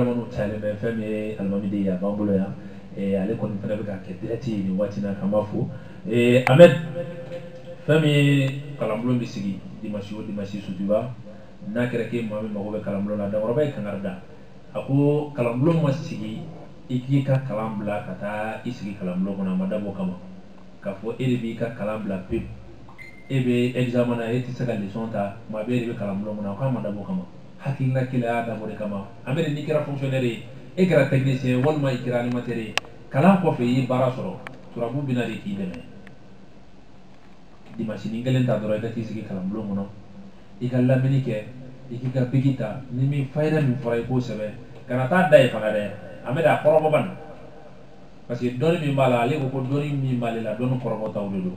minnu talen bɛ fɛn min ye alimami de ye a b'an bolo yan ale kɔni fana bɛ ka kɛ dirɛti ye nin waati na k'an b'a fo amɛd fɛn min ye kalanbulon bɛ sigi dimasi o dimasi sotuba n'a kɛra k'e maa min mago bɛ kalanbulon na dankɔrɔba ye kangari da a ko kalanbulon ma sigi i k'i ka kalan bila ka taa i sigi kalanbulon kɔnɔ a ma dabɔ o kama k'a fɔ e de b'i ka kalan bila pewu e bɛ examen na e tɛ se ka leçon ta tuma bɛɛ e de bɛ kalanbulon kɔnɔ a k'a ma dabɔ o kama hakilina kelen y'a dabɔ de kama amɛd n'i kɛra fonctionnaire ye e kɛra technicien walima i kɛra animateur ye kalan kɔfɛ i ye baara sɔrɔ turabu bɛ na de k'i dɛmɛ dimasinin kelen ta dɔrɔn i ka t'i sigi kalanbulon kɔnɔ i ka lamɛnni kɛ i k'i ka biki ta ni min fayida min fɔra i k'o sɛbɛn kana t'a da yen fana dɛ amɛd a kɔrɔbɔ ban parce que dɔnni min b'a la ale ko ko dɔnni min b'ale la dɔnni kɔrɔbɔtaw de don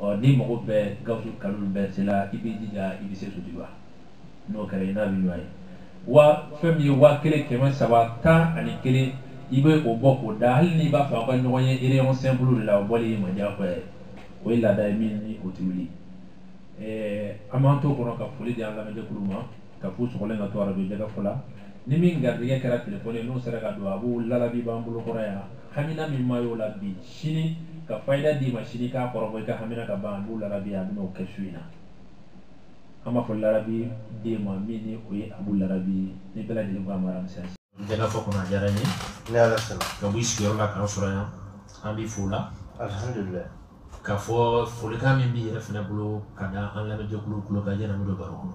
ɔ n'i mago bɛ gawusu kalilu berete la i b'i jija i bɛ se sotuba n'o kɛra i n'a bɛ ɲɔgɔn ye wa fɛn min ye waa kelen kɛmɛ saba tan ani kelen i bɛ o bɔ k'o da hali n'i b'a fɛ aw ka ɲɔgɔn ye réunion simple de la o bɔli y'i ma diyagoya ye o ye laada ye min ni o ti wuli ɛɛ an b'an to kɔnɔ ka foli di an lamɛnjɛkulu ma k'a f'u sɔgɔlen ka to arajo jɛkafɔ la ni min garijɛgɛ kɛra telefɔni ye n'o sera ka don abu larabi b'an bolo kɔrɔ yan hamina min ma y'o la bi sini ka fayida d'i ma sini k'a kɔrɔbɔ i ka hamina ka ban abu larabi a bɛn'o kɛ su in na an b'a fɔ larabi den ma min ni o ye abu larabi ni bɛɛ lajɛlen ko a mara misɛn jɛkafɔ kɔnɔ a diyara n ye i n'ala sɔnna ka bɔ i sigiyɔrɔ la k'an sɔrɔ yan an b'i fo la alihamdulilayi k'a fɔ folikan min b'i yɛrɛ fana bolo ka da an lamɛnjɛkulu tulo kan yanni an bɛ don baro kɔnɔ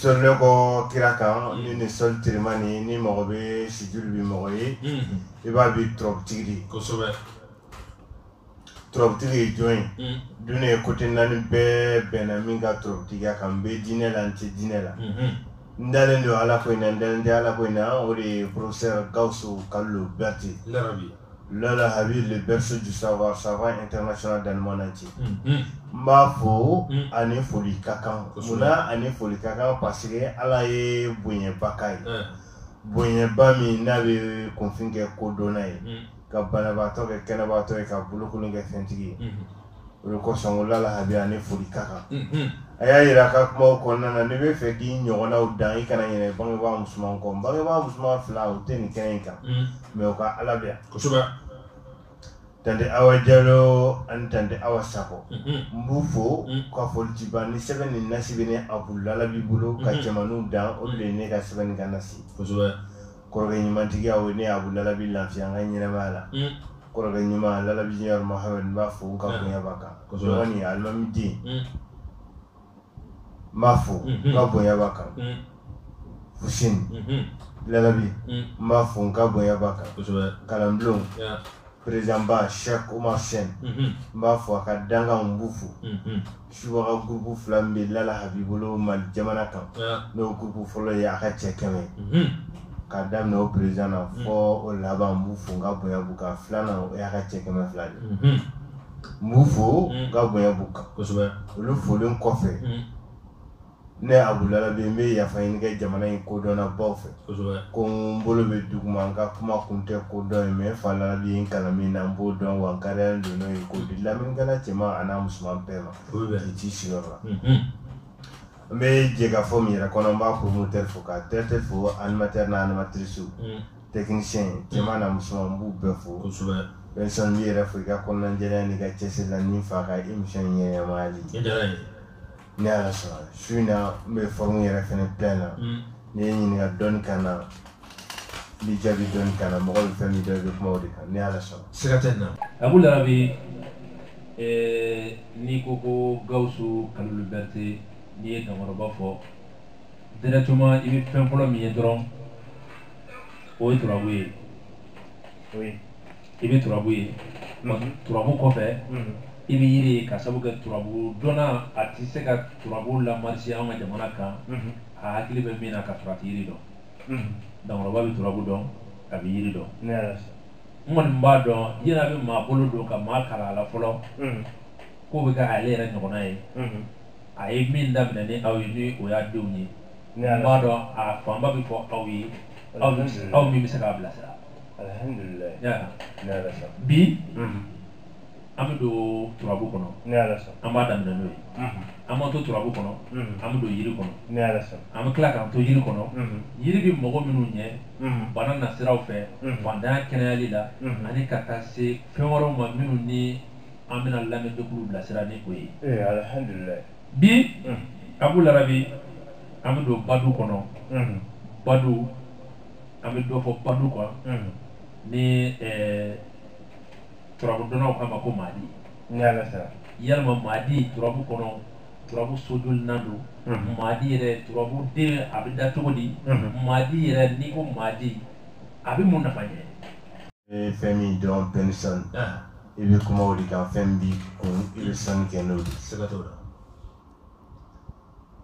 Sɔli ne kɔ kira kan ni ni sɔli teriman ni ni mɔgɔ bɛ sujudi bi mɔgɔ ye i b'a bi turabutigi de ye kosɛbɛ turabutigi ye jɔn ye duniya kote naani bɛɛ bɛnna min ka turabutigiya kan n bɛ diinɛ la n tɛ diinɛ la n dalen don ala ko in na n dalen tɛ ala ko in na o de ye professeur gawusu kalilu berete lala habib le berceau du savoir savant international dans le monde entier n b'a fo a ni foli ka kan munna a ni foli ka kan parce que ala ye bonyeba k'a ye bonyeba min n'a bɛ kunfin kɛ kodɔnna ye ka banabaatɔ kɛ kɛnɛbaatɔ ye ka bolokolon kɛ fɛntigi ye o de kosɔn ko lala habib a ni foli ka kan a y'a jira a ka kumaw kɔnɔna na n'i b'a fɛ k'i ɲɔgɔnnaw dan i kana ɲinɛ bangebaa musoman kɔ bangebaa musoman fila u tɛ nin kɛnɛ in kan mɛ u ka ala bɛ kosɛbɛ tante awa jalo ani tante awa sakɔ n b'u fo ka folitiba ni sɛbɛn ni nasi bɛ ne abu larabi bolo ka cɛmanninw dan o de ye ne ka sɛbɛn ni n ka nasi kosɛbɛ kɔrɔkɛ ɲumantigiya o ne Abu Larabi lafiya n ka ɲɛnamaya la, un, kɔrɔkɛ ɲuman Larabi Junior Mohamɛdi n b'a fo n ka bonya b'a kan, kosɛbɛ, dɔgɔnin alimami den, un, n b'a fo n ka bonya b'a kan, un, Fuseni, unhun, Larabi n b'a fo n ka bonya b'a kan, kosɛbɛ, kalanbulon, un perezidanba shek umar sen n b'a fo a ka dankan n b'u fo subaga gurupu fila min bɛ larabi bolo mali jamana kan n'o gurupu fɔlɔ ye a ka cɛ kɛmɛ ka daminɛ o perezidan na fo o laban n b'u fo n ka bonya b'u kan filanan o y'a ka cɛ kɛmɛ fila de n b'u fo n ka bonya b'u kan olu folen kɔfɛ ne abu larabi n bɛ yafa ɲini kɛ jamana in kodɔnna baw fɛ ko n bolo bɛ dugu ma n ka kuma kun tɛ kodɔn ye n fa larabi ye n kalan min na n b'o dɔn wa ka don n'o ye k'o di lamɛnnikɛla cɛman ani a musoman bɛɛ ma i t'i sigiyɔrɔ la n bɛ jɛkafɔ min yɛrɛ kɔnɔ n b'a pɔrɔmɔtɛri fo ka tɛ tɛ fo animatɛri n'a animatirisiw tɛkinisiyɛn cɛman n'a musoman n b'u bɛɛ fo kosɛbɛ bɛnsɔn n b'i yɛrɛ fo i ka kɔnɔnajɛya n'i ka cɛsiri la n'i fa ka emisiyɔn ɲɛmayali ni ala sɔnna su in na n bɛ fɔrmu yɛrɛ fɛnɛ plein na mm. n'i ye ɲininka dɔɔni kan na n bɛ jaabi dɔɔni kan na mɔgɔ bɛ fɛn min dɔn i bɛ kuma o de kan ni ala sɔnna. siga tɛ nin na. abu larabi n'i ko ko gawusu kalilu berete n'i ye dankɔrɔba fɔ directement i bɛ fɛn fɔlɔ min ye dɔrɔn o ye turabu ye. i bɛ turabu ye turabu kɔfɛ i bɛ yiri ye ka sabu kɛ turabu dɔnna a tɛ se ka turabu lamarisi an ka jamana kan a hakili bɛ min na ka sɔrɔ a tɛ yiri dɔn dankɔrɔba bɛ turabu dɔn a bɛ yiri dɔn n kɔni b'a dɔn yiri a bɛ maa bolo don ka maa kalan a la fɔlɔ k'o bɛ kɛ ale yɛrɛ ɲɔgɔnna ye a ye min daminɛ ni aw ye ni o y'a denw ye n b'a dɔn a fanba bɛ fɔ aw ye aw min bɛ se k'a bilasira bi an bɛ don turabu kɔnɔ an b'a daminɛ n'o ye an b'an to turabu kɔnɔ an bɛ don yiri kɔnɔ an bɛ tila k'an to yiri kɔnɔ yiri bɛ mago minnu ɲɛ bana nasiraw fɛ fantanya kɛnɛyali la ani ka taa se fɛn wɛrɛw ma minnu ni an bɛna lamɛnjɛkulu bilasira ni o ye bi abu larabi an bɛ don badu kɔnɔ badu an bɛ dɔ fɔ badu kan ni turabudɔnnaw k'a ma ko maadi yalima maadi turabu kɔnɔ turabu sojolinan don maadi yɛrɛ turabu den a bɛ da cogo di maadi yɛrɛ n'i ko maadi a bɛ mun nafa ɲɛ i bɛ fɛn min dɔn bien sûr i bɛ kuma o de kan fɛn b'i kun i bɛ sanni kɛ n'o ye siga t'o la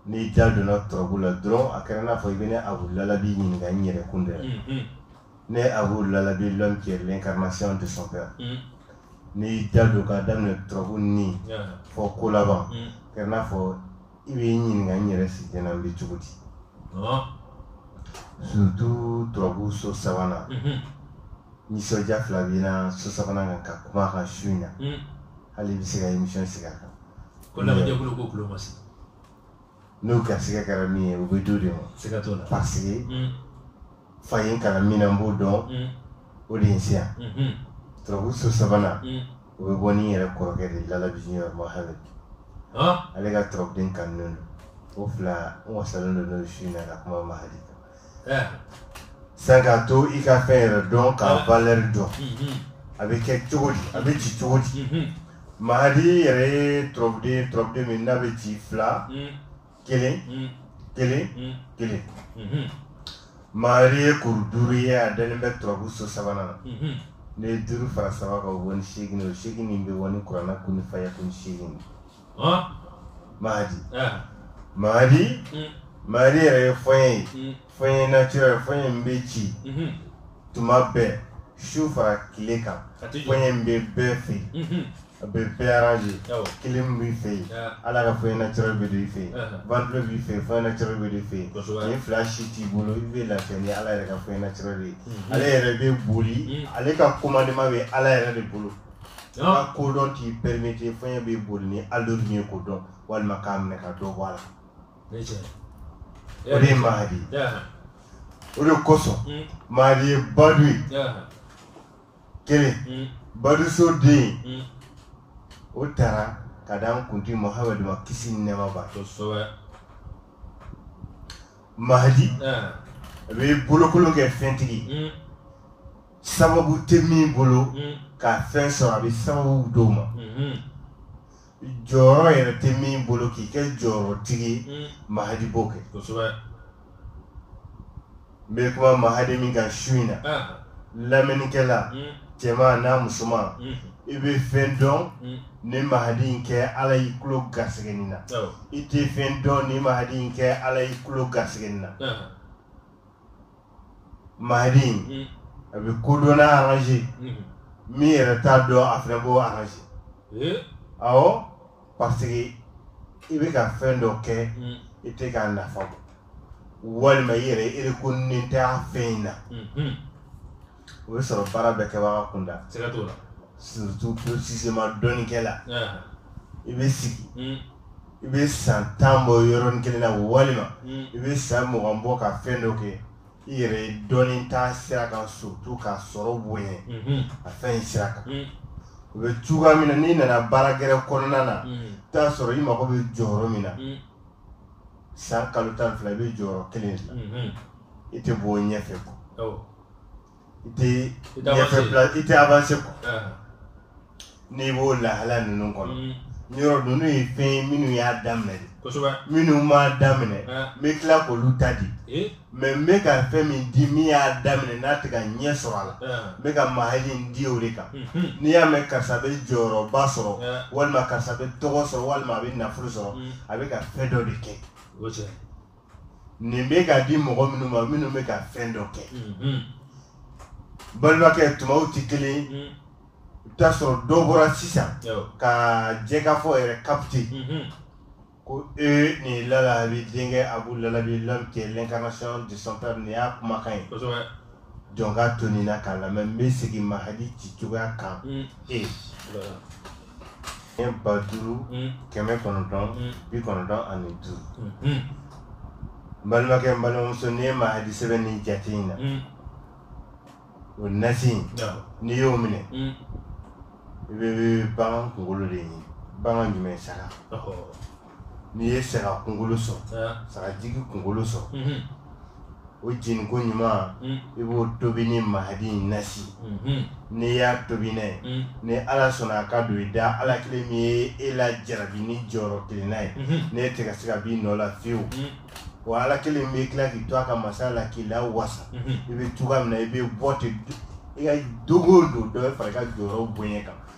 N'i da donna turabu la dɔrɔn a kɛra n'a fɔ i bɛ ne Abu Lalabi ɲininka n yɛrɛ kun dɛ, unhun, ne Abu Lalabi l'homme qui est l'incarnation de son père unhun, n'i y'i da don k'a daminɛ turabu ni fɔ kolaban, un, a kɛra n'a fɔ i bɛ n ɲininka n yɛrɛ si tɛna n bɛ cogo di, ɔɔ, surtout turabu so sabanan, unhun, nisɔndiya fila b'i na so sabanan kan ka kuma a kan su in na, un hali i bɛ se ka émission sigi a kan ko lamɛnjɛkulu ko tulo ma se n'o garisigɛ kɛra min ye o bɛ d'o de ma siga t'o la parce que Mm, fa ye n kalan min na n b'o dɔn mm, o de ye n se yan mhm, turabu so sabanan mm. o bɛ bɔ ni n yɛrɛ kɔrɔkɛ de ye lalabi junior mohamed Ah, ale ka turabuden kanunen don o fila n wasalen don n'o su in na ka kuma mahadi kan Sa k'a to i ka fɛn yɛrɛ dɔn k'a valeur dɔn a bɛ kɛ cogo di a bɛ ci cogo di mahadi yɛrɛ ye turabuden turabuden min n'a bɛ ci fila kelen kelen kelen mahadi ye kuru duuru ye a dalen bɛ turabu so sabanan na n'i ye duuru fara saba kan o bɛ bɔ ni segin ye o segin bɛ bɔ ni kuranɛ kun fayakun segin mahadi mahadi mahadi yɛrɛ ye fɔɲɛ ye fɔɲɛ naturel fɔɲɛ min bɛ ci tuma bɛɛ su fara tile kan fɔɲɛ min bɛ bɛɛ fɛ yen a bɛ bɛɛ arrange clim b'i fɛ yen ala ka fɔɲɛ naturel bɛ don i fɛ yen ventilo b'i fɛ yen fɔɲɛ naturel bɛ don i fɛ yen nin fila si t'i bolo i bɛ lafiya ni ala yɛrɛ ka fɔɲɛ naturel ye ale yɛrɛ bɛ boli ale ka commandement bɛ ala yɛrɛ de bolo. ka kodɔn t'i permettre fɔɲɛ bɛ boli ni allure min ye k'o dɔn walima k'a minɛ ka dɔ bɔ a la o de ye mahadi o de kosɔn hmm. mahadi ye badu ye kelen hmm. baduso den hmm. o taara ka da an kuntigi mohamɛd ma kisi ni nɛɛma b'a ye mahadi a bɛ bolokolon kɛ fɛntigi sababu tɛ min bolo mm. ka fɛn sɔrɔ a bɛ sababu d'o ma mm-hmm. jɔyɔrɔ yɛrɛ tɛ min bolo k'i kɛ jɔyɔrɔtigi ye mm. mahadi b'o kɛ kosɛbɛ n bɛ kuma mahadi min kan su in na ah. lamɛnnikɛla mm. cɛman n'a musoman i bɛ fɛn dɔn ni mahadi in kɛ ala y'i tulo garisɛgɛ nin na oh. i tɛ fɛn dɔn ni mahadi in kɛ ala y'i tulo garisɛgɛ nin na ah. Mahdi mm. a bɛ kodɔnna arrange mm. min yɛrɛ t'a dɔn a fana b'o arrange eh? awɔ parce que i bɛ ka fɛn dɔ kɛ mm. i tɛ k'a nafa bɔ walima i yɛrɛ erekonen tɛ a fɛn in na. Mm-hmm. o bɛ sɔrɔ baara bɛɛ kɛbaga kunda siga t'o la surtout précisément dɔnnikɛla i bɛ sigi hmm. i bɛ san tan bɔ yɔrɔnin kelen na walima hmm. i bɛ san mugan bɔ ka fɛn dɔ kɛ i yɛrɛ ye dɔnni ta sira kan surtout ka sɔrɔ bonya hmm. a fɛn in sira kan o bɛ cogoya min na n'i nana baara gɛrɛ kɔnɔna na t'a sɔrɔ i mago bɛ jɔyɔrɔ min na san kalo tan fila i bɛ jɔyɔrɔ kelen de la i tɛ bɔ ɲɛfɛ kuwa i tɛ I tɛ ɲɛfɛ avancé. pla- i tɛ avanse kɔ Ɛɛ. n'i b'o lahala ninnu kɔnɔ Mm. yɔrɔ ninnu ye fɛn ye minnu y'a daminɛ de Kosɛbɛ. minnu m'a daminɛ Ɛɛ. n bɛ tila k'olu ta di Ee. mais n bɛ ka fɛn min di min y'a daminɛ n'a tɛ ka ɲɛ sɔrɔ a la Ɛɛ. n bɛ ka mahadi in di o de kan Mhm. n'i y'a mɛn karisa bɛ jɔyɔrɔba sɔrɔ Ɛɛ. walima karisa bɛ tɔgɔ sɔrɔ walima a bɛ nafolo sɔrɔ Mm. a bɛ ka fɛn dɔ de kɛ O cɛ. nin bɛ ka di mɔgɔ minnu ma minnu bɛ ka fɛn dɔ kɛ mhm. balimakɛ tumaw tɛ kelen mhm. i bɛ taa sɔrɔ dɔ bɔra sisan ka jɛkafɔ yɛrɛ kapite mhm. ko e nin Lalabi denkɛ Abu Lalabi l'homme qui est l'incarnation de son père nin y'a kumakan ye jɔn ka to nin na k'a lamɛn n bɛ segin mahadi ci cogoya kan e. Kɛmɛ ba duuru mm. kɛmɛ kɔnɔntɔn mm. bi kɔnɔntɔn ani duuru mm-hmm. n balimakɛ n balimamuso n'i ye mahadi sɛbɛn ni jate in na mm. o nasi in n'i y'o minɛ i bɛ bagan kunkolo de ɲini bagan jumɛn saga n'i ye saga kunkolo sɔrɔ sagajigi kunkolo sɔrɔ mhm. o jeni ko ɲuman mhm. i b'o tobi ni mahadi in nasi mhm. n'i y'a tobi n'a ye ni ala sɔnna a ka don i da ala kelen min ye e lajarabi ni jɔyɔrɔ kelenna ye n'e tɛ ka se ka b'i nɔ la fiyewu wa ala kelen bɛ tila k'i to a ka masaya la k'i lawasa i bɛ cogoya min na i bɛ bɔ ten i ka don go don dɔ bɛ fara i ka jɔyɔrɔ bonya kan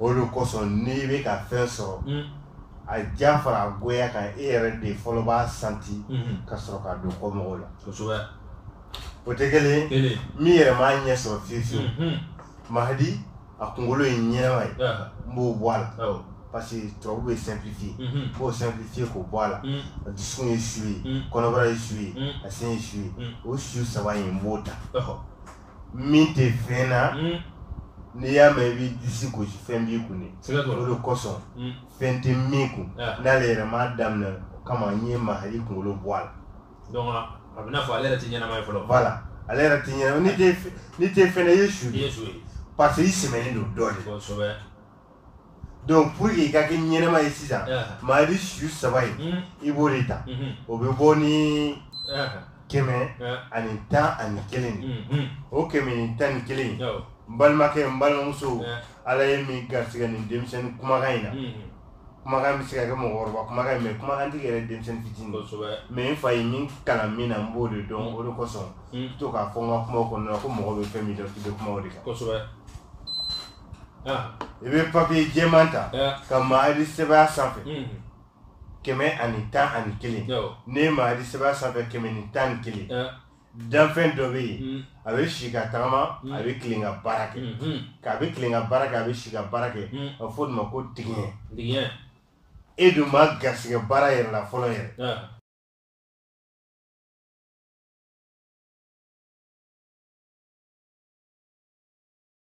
o de kosɔn n'i bɛ ka fɛn sɔrɔ mm. a diya fara a goya kan e yɛrɛ de fɔlɔ b'a sentir mm-hmm. ka sɔrɔ ka don kɔ mɔgɔw la o tɛ kelen min yɛrɛ m'a ɲɛ sɔrɔ fiye fiyewu mm-hmm. mahadi a kunkolo ye ɲɛnama ye n b'o bɔ a la parce que tubabu bɛ simplifier n mm-hmm. b'o simplifier k'o bɔ a la mm. a dusukun ye su ye mm. kɔnɔbara ye su ye a sen ye su ye o su saba in n b'o ta min tɛ fɛn na mm. n'i y'a mɛn i b'i disi gosi fɛn b'i kun de o de kosɔn mm. fɛn tɛ min kun n'ale yɛrɛ m'a daminɛ o kama n ye mahadi kunkolo bɔ a la donc a bɛ n'a fɔ ale yɛrɛ tɛ ɲɛnama ye fɔlɔ voilà ale yɛrɛ tɛ ɲɛnama n'i tɛ n'i tɛ fɛn na i ye su de ye parce que i sɛmɛnen don dɔ de kosɛbɛ donc pour que i ka kɛ ɲɛnama ye sisan mahadi su saba in i b'o de ta o bɛ bɔ ni kɛmɛ ani tan ani kelen o kɛmɛ ni tan ni kelen n balimakɛ n balimamuso ala ye min garisigɛ nin denmisɛnnin kumakan in na kumakan bɛ se ka kɛ mɔgɔkɔrɔba kumakan mais kumakan tigi yɛrɛ denmisɛnnin fitinin mais n fa ye min kalan min na n b'o de dɔn o de kosɔn n to k'a fɔ n ka kumaw kɔnɔna na ko mɔgɔ bɛ fɛn min dɔn k'i bɛ kuma o de kan i bɛ papiye jɛman ta ka mahadi sɛbɛn a sanfɛ kɛmɛ ani tan ani kelen n'i ye mahadi sɛbɛn a sanfɛ kɛmɛ ni tan ni kelen danfɛn dɔ bɛ yen a bɛ si ka tagama a bɛ tilen ka baara kɛ k'a bɛ tilen ka baara kɛ a bɛ si ka baara kɛ a bɛ fɔ o de ma ko tigiɲɛ e dun ma garisɛgɛ baara yɛrɛ la fɔlɔ yɛrɛ